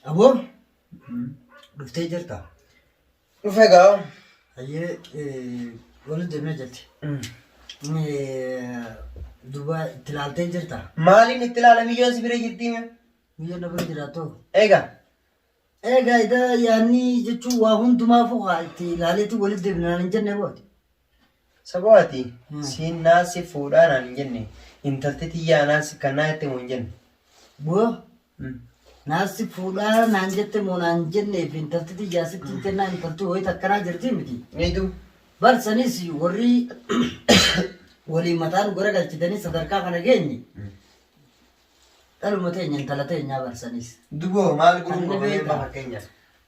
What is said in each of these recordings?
Aboo dhuftee jirta. Dhufe gaa. Hayyee wal deemee jirti. Duuba itti laaltee jirta. Maaliin itti ilaala miyyoon si bira jirti mee? Miyyoo na bira jiraatoo. Egaa. Egaa idaa yaannii jechuun waa hundumaafuu haa itti ilaaleetti walitti deebinaan hin jenne booti. Saboo ati siin naa si fuudhaa naan hin jenne intalti tiyyaa naa si kannaa jette moo hin jenne. Boo naa si fuudhaa naan jette moo naan hin jenne fi intalti tiyyaa sitti hin kennaa intalti wayita akkanaa jirti miti. Niitu. Bar sanis warri waliin mataa nu garagalchitanii sadarkaa kana geenye dhaluma teenya intala teenyaa bar sanis. Duboo maal gurun Kan ni gofa mee beektaa. amma fakkeenyaaf.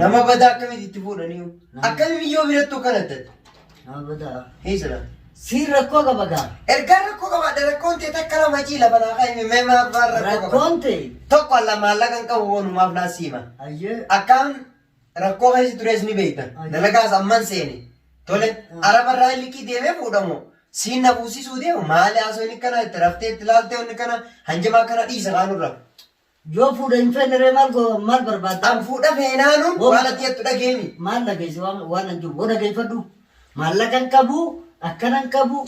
Nama badaa akkamitti itti fuudhanii? Akkami miyyoo birattuu kana tati? Nama badaa. Hiisira. Siin rakkoo qaba gaa. Ergaa rakkoo qabaadha rakkoon tee takka lama cii lafa naa kaa'ime mee maaf waan rakkoo qaba? Rakkoon tee. Tokko alla maallaqa hin qabu wanumaaf naa siima. Ayyee. Akkaan rakkoo keessa turees ni beekta. Dalagaas amman seene. Tole arabarraa liqii deemee fuudhamu. Siin na fuusisuu deemu maali haasoo inni kana itti raftee itti laaltee inni kana hanjamaa kana dhiisa kaanurra. Yoo fuudha hin feene ree maal go maal barbaadda? An fuudha feenaanuun Woo. waan ati jettu dhageemi. Maal dhageesse waan waan an jiru woo dhageeffadhu. Maallaqan qabu akkanan qabu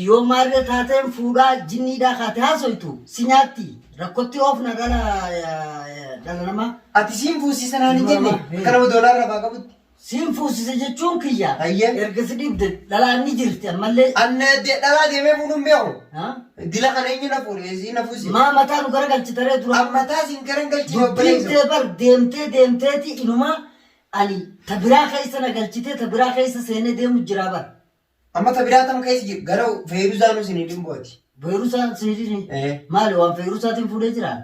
yoo maarree taateen fuudhaa jinniidhaa kaate haasoytu si nyaatti rakkotti oofna dhala eh, dhala namaa. Ati siin fuusiisa naan hin jenne Nama, eh. akka nama doolaarra baa qabutti. Siin fuusisa jechuun kiyya. Hayyee. Erga si dhiibde dhalaan ni jirti ammallee. An de- dhalaa deemee fuudhuun beeku. Ha? Dila kana eenyu na fuudhe si na fuuse. Maa mataa nu gara galchitaree dura. An mataa siin gara hin galchine Dubbiin obboleessa. tee bar deemtee deemteeti inumaa ani ta biraa keessa na galchitee ta biraa keessa seenee deemu jiraa bar. Amma ta biraa tam keessa jiru gara feeruzaanuu siin hin dhimbooti. Feerusaan siidini. Eh. Maali waan feerusaatiin fuudhee jiraa?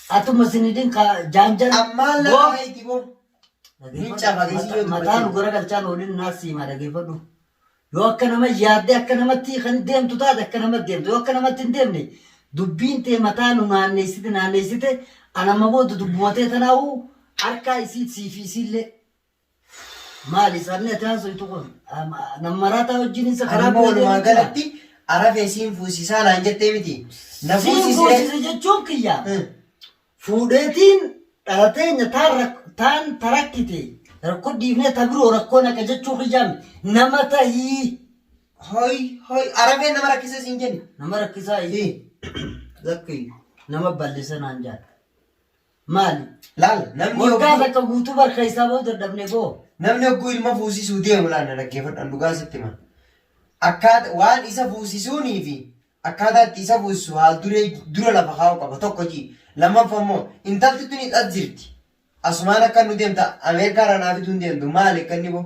Atuma sinidin ka janjan Ammaa go lafa haiti bo. Hin cafate isin yoo mataa nu dubbatte. gara galchaan oolin naa siima dhageeffadhu. Yoo akka nama yaadde akka namatti kan deemtu taate akka nama deemtu yoo akka namatti hin deemne dubbiin tee mataa nu naanneessite naanneessite anamma booda dubbumatee tanaa'u harkaa isiit siifi isiillee. Maali sabni ati haasoytu kun nam maraataa wajjin isa karaa Amma walumaa galatti arafee siin fuusisaa naan jettee miti. Na Siin fuusisee. fuusise jechuun kiyya Hmm. fuudheetiin dhalateenya taan rak- taan tarakkite rakkoo dhiifnee ta biroo rakkoo naqa jechuu kiyyaa miti. nama tahii Hoi hoi arafeen nama rakkisee siin jenni. nama rakkisaa Ii. lakki nama bal'isa naan jaadha. Maali? Laal namni Waggaa hogguu takka guutuu bar keessaa ba'uu dadhabne boo. namni hogguu ilma fuusisuu deemu laal na dhaggeeffadhaan dhugaan sitti hima. Akkaata waan isa fuusisuunii fi akkaataa itti isa fuusisu haal duree dura lafa kaa'uu qaba tokko ji. Lammaffaa immoo intalti tunis as jirti. Asumaan akka nu deemta Ameerikaa irraa naa fiduu hin deemtu maali akka inni boo?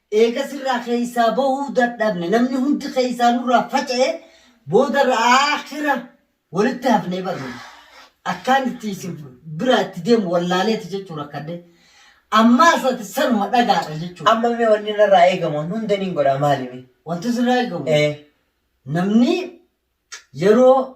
Eega sirraa keessaa bahuu dadhabne, namni hundi keessaa nurraa faca'e, boodarra aakhira walitti hafnee bar nuti. Akkaan itti isin biraa itti deemu wallaaleeti jechuu rakkadhe. Ammaas ati sanuma dhagaadha jechuu. Amma mee wanni narraa eegamu an hunda niin godha maali mee? Wanti sirraa eegamu Ee. namni yeroo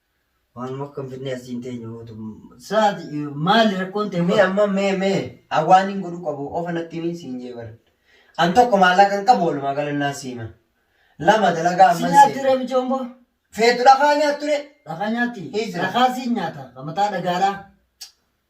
Waanuma akka finfinnee as hin teenye gootu. Saati maali rakkoon ta'e? Mee amma mee mee hawaan hin godhu qabu ofa natti himi siin jee bar. An tokko maallaqa hin qabu walumaa galannaan siima. Lama dalagaa amman siima. Si nyaatti ramicha omboo? Feetu dhakaa nyaatture. Dhakaa nyaatti? Dhakaa siin nyaata. Mataa dhagaadhaa.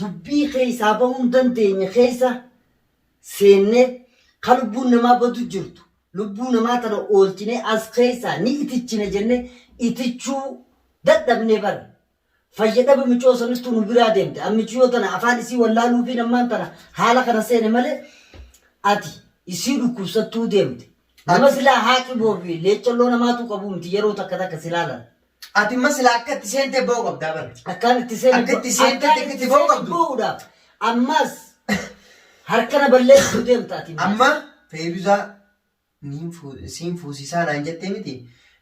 dubbii keessaa bahuu hin dandeenye keessa seennee ka lubbuun namaa badu jirtu lubbuu namaa tana oolchinee as keessaa ni itichina jennee itichuu dadhabnee bar fayya dhaba micoo sanittuu nu biraa deemte an miciyoo tana afaan isii wallaaluufiin ammaan tana haala kana seene malee ati isii dhukkubsattuu deemte nama silaa haaqiboo fi leeccalloo namaatu qabuu miti yeroo takka takka silaa lala Ati immoo silaa akka itti seentee ba'uu qabdaa bara. Akkaan itti seenu. Akka itti seente akka itti ba'u qabdu. Bo'uudhaaf. Ammaas harkana balleessuu deemta ati. Amma Feeyiruzaa niin fuu- siin fuusisaa naan jettee miti.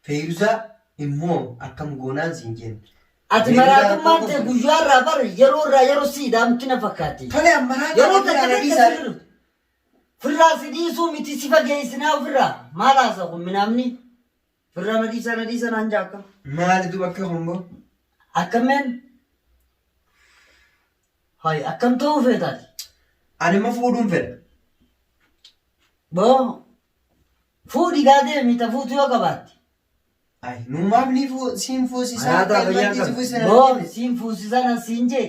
Feeyiruzaa immoo akkam goonaan siin jenne. Ati Feeyiruzaa maraatummaan rakkoo tee qabdu. guyyaa irraa bara yeroo irraa yeroo si ida'amti na fakkaatti. Tole amma raataa Yeroo ofirraa takka na takka dhiisaa. sirru. Firraa si dhiisuu miti si fageessinaa ofirraa. Maal haasa kun minaamni? Firraa na dhiisaa na dhiisaa naan jaa akkam. Maali duba akkam ammoo? Akkam meen? Hayi akkam ta'uu feetaati? Ani immoo fuudhuun fedha. Boo fuudhi gaa deemi ta fuutu yoo qabaatte. Ay, nu maaf ni fuu- siin fuusisaa? Alaataa fayyaa Ilmaan qabdi. fuusisaa Boo siin fuusisaa nan siin jee.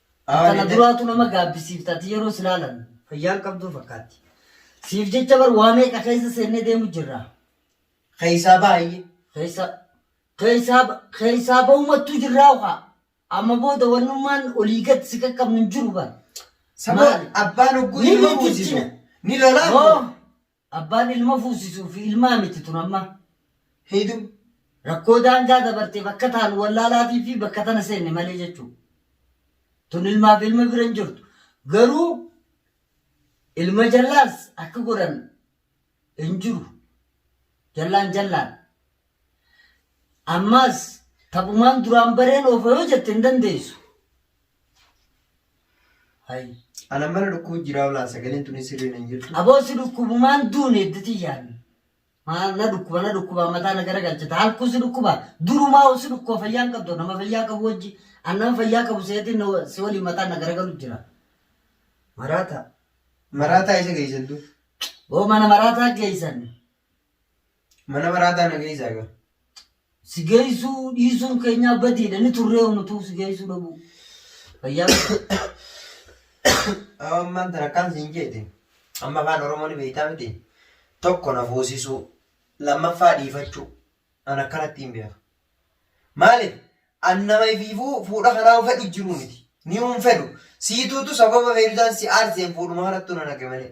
Kana duraatu nama gaabbisiifta ati yeroo si laalan fayyaan qabduu fakkaatti. Siif jecha bar waa meeqa keessa seennee deemu jirra. Keessaa baay'ee. Keessa keessaa keessaa ba'umattuu jirraa ukaa. Amma booda wannummaan olii gad si qaqqabnu hin jiru bar. Saboo Maali? abbaan hogguu Ni ilma miidhagina. buusisu. Ni lolaa. Hoo Abbaan ilma fuusisuu fi ilmaa miti tun amma. Hidhu. Rakkoo daangaa dabarteef akka taanu wallaalaafii fi bakka tana seenne malee jechuu. Tun ilmaa fi ilma bira hin jirtu. Garuu ilma jallaas akka godhan hin jiru. Jallaan jallaan. Ammaas taphumaan duraan bareen oofa yoo jette hin dandeessu. Hay. Ana mana dhukkuu jiraa olaa sagaleen tuni sirrii nan jirtu. Aboo si dhukkubumaan duune idditi yaan. Maa na dhukkuba na dhukkuba mataa na garagalchita halkuu si dhukkuba durumaa ol si dhukkuba fayyaan qabdu nama fayyaa qabu wajji an nama fayyaa qabu seetiin na wa- si waliin mataan na garagalu jira. Maraataa. Maraataa isa geessantu. Boo mana maraataa geessan. Mana maraataa na geessaa gaa. Si geessuu dhiisuun keenyaa badiidha ni turree unutuu si geessuu dhabuu. Fayyaa Ammaan tana akkaan siin jeete. Amma afaan Oromoo ni beektaa miti. Tokko na fuusisuu. Lammaffaa dhiifachuu. An akkanatti hin beeku. Maaliif? An nama ifiifuu fuudha kanaa fedhu jiru miti. Ni hin fedhu. Siituutu sababa feetusaan si aarseen fuudhuma kanattu na naqe malee.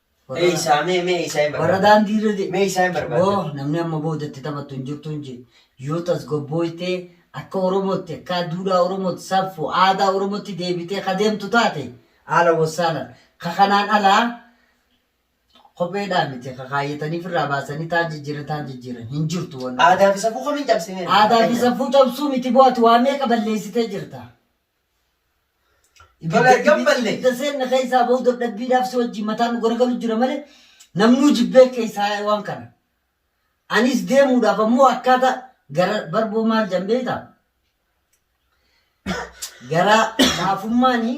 Mee isaa mee mee isaa hin Warra barbaadu. daandii irra de- Mee isaa hin barbaadu. Woo, namni amma booda itti taphattu hin jirtu hin jedhu. Yoo tasgabbooytee akka Oromootti, akka duudhaa Oromootti, saffu, aadaa Oromootti deebitee ka deemtu taate haala wassaalan. Ka kanaan alaa kopheedhaa miti ka kaayyatanii firraa baasanii taan jijjiiran taan jijjiiran hin jirtu wanni. Aadaa fi safuu kamiin cabsinee? Aadaa fi safuu cabsuu miti bu'aati waa meeqa balleessitee jirta. Bakka gammalle. Ibidda seenna keessaa bahu dadhabbiidhaaf si wajjin mataan nu garagalu jira malee namnuu jibbee keessaa yaa'e waan kana. Anis deemuudhaaf ammoo akkaataa gara barboo maal jedhan beektaa? Garaa laafummaanii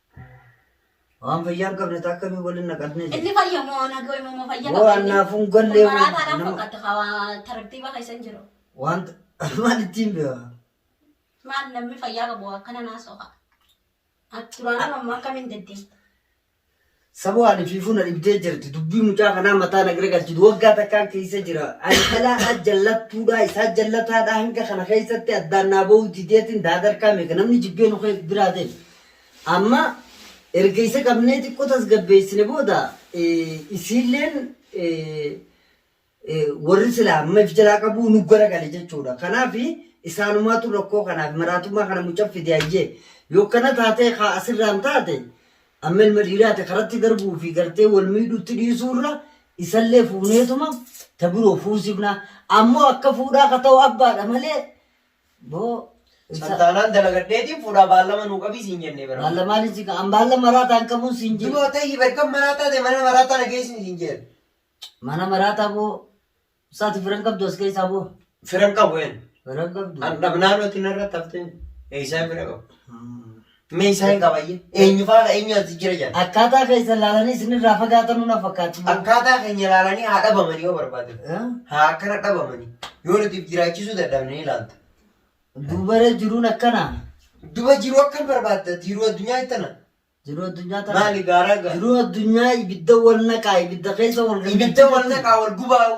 Waan fayyaa hin qabne taa akkamii waliin naqatnee jirti? Inni fayya moo nagoo immoo moo fayya Woo annaaf hin galle. Maraataa dhaan fakkaata hawaa tartiiba keessa hin jiru. Wanta maal ittiin beekaa? Maal namni fayyaa qabu akkana naa soqa. Duraan ammoo akkamiin deddee? Saboo ani fiifuu na dhibdee jirti. Dubbii mucaa kanaa mataa na garagalchi. Waggaa takkaan keessa jira. Ani dhalaadhaa jallattuudhaa isaa jallataadhaa hanga kana keessatti addaan naa ba'uu dideetiin daadarkaa meeqa namni jibbee nu biraa ta'e. Amma erga isa qabnee xiqqoo tasgabbeessine booda isiilleen warri silaa amma if jalaa qabuu nu garagale jechuudha. Kanaaf isaanumaatu rakkoo kanaaf maraatummaa kana mucaf fide hayyee. Yoo kana taatee kaa asirraan taate amma ilma dhiiraati karatti darbuu fi gartee wal miidhuutti dhiisuurra isallee fuuneetuma ta biroo fuusifna. Ammoo akka fuudhaa ka ta'u abbaadha malee Boo. Santaanaan dalagadheetiin fuudhaa baallama nuu qabii siin jennee bara. Baallamaan isin kan an baalla maraataa hin qabuun siin jedhe. Duroo ta'ii barkan maraataa ta'e mana maraataa na geessin siin jeen. Mana maraataa boo. Saati firan qabdu as keessaa boo. Firan qabu een. Firan qabdu. An dhabnaan oti narra tafteen. Eessaa fira qabu. Hmm. Meeshaa hin qabayye. Eenyu faana eenyu as jijjiira jedhan. Akkaataa keessan ilaalanii isinirraa fagaatanuu na fakkaatu. Akkaataa keenya ilaalanii haa dhabamanii yoo barbaadan. Eh? Haa akkana dhabamanii. Yoo nuti if jiraachisuu dadhabne ni ilaalta. Duubaree jiruun akkana. Duba jiruu akkam barbaadda? Jiruu addunyaa ittana. Jiruu addunyaa tana. Maali gaaraa gaara? Jiruu addunyaa ibidda wal naqaa ibidda keessa wal gannachuu Ibidda wal jechuudha. naqaa wal gubaa'u.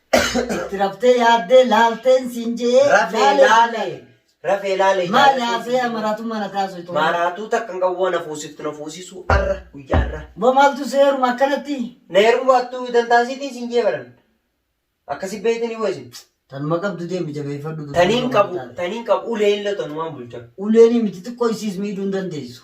Itti raftee yaaddee laalteen siin je'ee Rafee laalee laale. Rafee laale. Maal jaalatee haasee siin je'ee. maraatuu mana taasu itoo. Maaraatuu takka hin qabu waan hafuusiftu na fuusisuu arra guyyaa arra. Bo maaltu si heeruma akkanatti? Na heerumu baattu dantaasiitiin siin je'ee baran. Akkasi beeytanii hoo isin. Tanuma qabdu deemi jabeeffadhu. dubbii Taniin qabu qabu taate. taniin qabu ulee illee tanumaan bulcha. Uleenii miti xiqqoo isiis miidhuu hin dandeessu.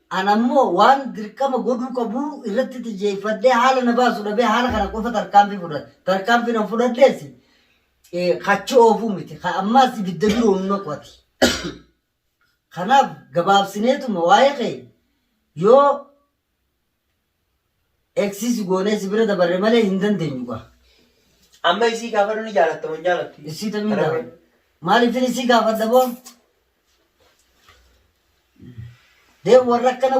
An ammoo waan dirqama godhuu qabu irratti xiyyeeffadhee haala na baasu dhabee haala kana qofa tarkaanfii fudhadhe. Tarkaanfiin an fudhadhees eh, kachi oofuu miti. Ka ammaas ibidda biroo nu naqu ati. Kanaaf gabaabsineetuma waa'ee kee yoo Eksiisi goonee si bira dabarre malee hin dandeenyu gaa. Amma isii gaafadhu ni jaalatta moo hin jaalattu? Isii tamii Kana gaafadha. Maaliifin isii gaafadha boo? Dee warra akkana